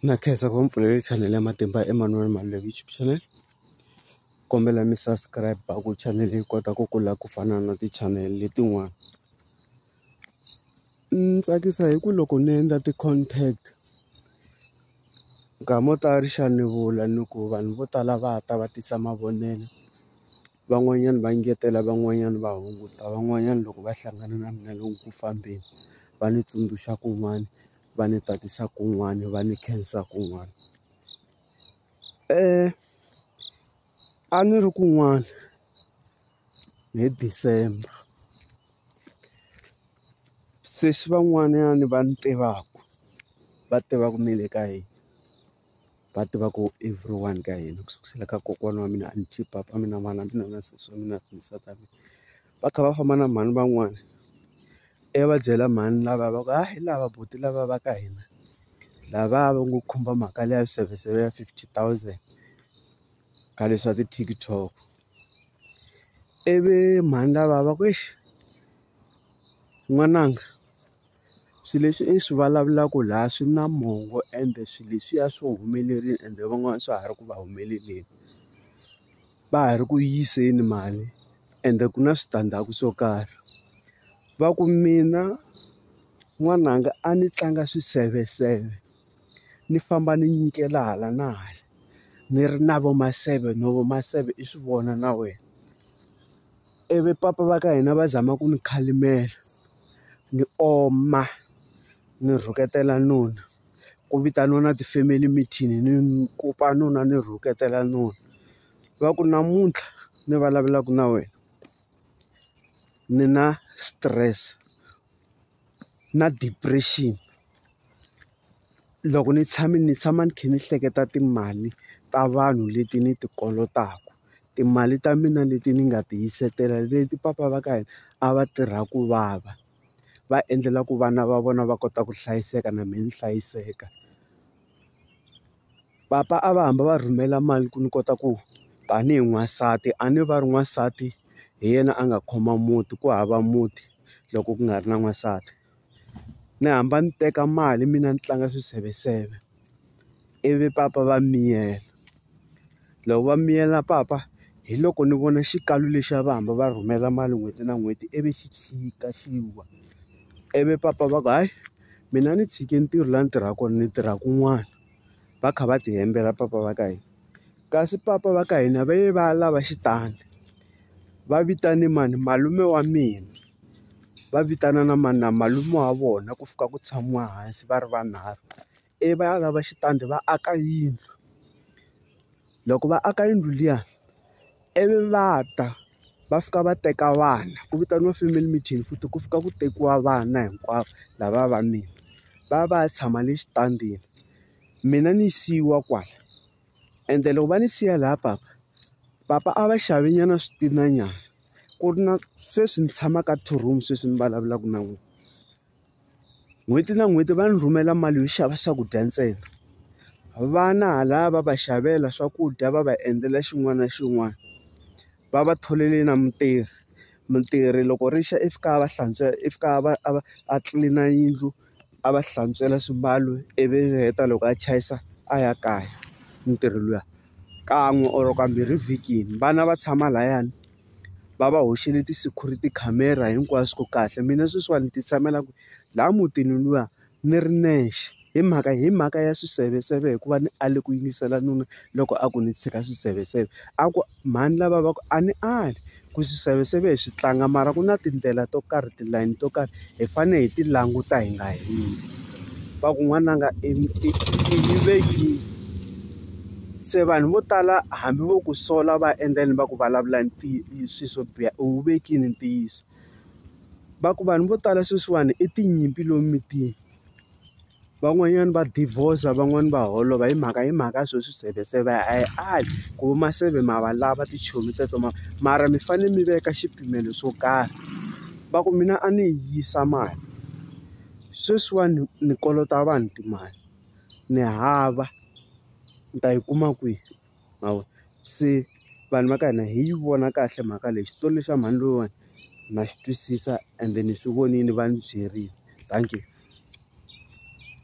Na khensa ku va mi pfulele chanel ya matimba Emmanuel Maluleke YouTube channel kombela mi subscribe a ku chanel yi kota ku kula ku fana na ti-channel letin'wana ni tsakisa hi ku loko ni endla ti-content nkama wo tala ri xa ni vula ni ku vanhu vo tala va ta va tisa mavonelo van'wanyana va engetela van'wanyana va hunguta van'wanyana loko va hlangana na mina lomu ku fambeni va ni tsundzuxa kun'wana va ni tatisa kun'wana va ni khensa kun'wana a ni ri kun'wana hi December se swi van'wanyana va ni tivaka va tivaka ni le ka yini. va tiva ku everyone ka hina ku sukela ka kokwana wa mina aunty papa mina mhana mina na sesi wa mina na nsati wa mina va kha va famba na mhani van'wani i ya va byela mhani lava va ku ha hi lava buti lava va ka hina lava va ngo khumba mhaka leya swiseveseve ya fifty thousand ka leswa ti-TikTok. ivi mhani lava va ku exi n'wananga swilo leswi i swi vulavulaka laha swi na mongo ende swilo leswiya swi humelerile ende van'wana swa ha ri ku va humeleleni va ha ri ku yiseni mali ende ku na switandzhaku swo karhi va ku mina n'wananga a ni tlanga swiseveseve. ni famba ni nyikela hala na hala ni ri na vo ma seven no vo ma seven i swi vona na wena ivi papa va ka hina va zama ku ni khalimela ni oma ni rhuketela nuna ku vitaniwa na ti-family meeting ni kopa nuna ni rhuketela nuna va ku namuntlha ni vulavulaka na wena. ni na stress na depression loko ni tshame ni tshama ni kha ni hleketa timali ta vanhu leti ni ti kolotaka timali ta mina leti ni nga ti hiseketela leti papa va ka hina a va tirha ku vava va endlela ku vana va vona va kota ku hlayiseka na mina ni hlayiseka. papa a va hamba va rhumela mali ku ni kota ku tanihi n'wansati a ni va ri n'wansati hi yena a nga khoma muti ku hava muti loko ku nga ri na n'wansati ni hamba ni teka mali mina ni tlanga swiseveseve ivi papa va miyela. loko va miyela papa hi loko ni vona xikalu lexi a va hamba va rhumela mali n'hweti na n'hweti ivi xi tshika xi wa ivi papa va ku hayi mina ni tshike ntirho laha ni tirhaka kona ni tirha kun'wana va kha va ti hembela papa va ka hina kasi papa va ka hina va ye va ya lava xitandi va vitane mani malume wa mina va vitana na mani na malume wa vona ku fika ku tshamiwa hansi va ri vanharhu. ivi va ya lava xitandi va aka yindlu loko va aka yindlu liya ivi va ta va fika va teka vana ku vitaniwa family meeting futhi ku fika ku tekiwa vana hinkwavo lava va mina va ya va ya tshama le xitandini mina ni siyiwa kwala ende loko va ni siya laha papa papa a va xave nyana switinanyana ku ri na sweswi ni tshama ka two room sweswi ni vulavulaka na n'wina. n'hweti na n'hweti va ni rhumela mali yo xava swakudya ntsena vana hala va va xavela swakudya va va endlela xin'wana na xin'wana va va tholele na mutirhi mutirhi loko ri xa i fika a va hlantswa i fika a va a va a tlilina yindlu a va hlantswela swimbalo ivi heta loko a chayisa a ya kaya mutirhi luya kan'we or kambirhi evhikini vana va tshama layani. va va hoxile ti-security camera hinkwaswo ku kahle mina sweswiwani ni ti tshamela ku laha mutini luya ni ri nexe hi mhaka hi mhaka ya swiseveseve hikuva ni ale ku yingisela nuna loko a ku ni tshika swiseveseve a ku mhani lava va ku a ni ali ku swiseveseve hi swi tlanga mara ku na tindlela to karhi tilayini to karhi. Hi fanele hi ti languta hi nga heli. Va ku n'wananga i yive yi. Se vanhu vo tala hambi vo ku sola va endla yini va ku vulavula swilo swo biha u wu vekile ntiyiso. Va ku vanhu vo tala sweswiwani i tinyimpi lomu mitini. van'wanyana va divorce van'wani va holova hi mhaka hi mhaka ya swo swiseveseve a hi ali ku va maseve ma va lava tichomi teto ma mara mi fanele mi veka xipimelo swo karhi va ku mina a ni yisa mali sweswiwani ni kolota vanhu timali ni hava ni ta yi kuma kwihi ma vo se vanhu va ka hina hi yi vona kahle mhaka leyi xitori lexa mhani loyiwani. na swi twisisa ende ni swi vonile va ni byerile thank you.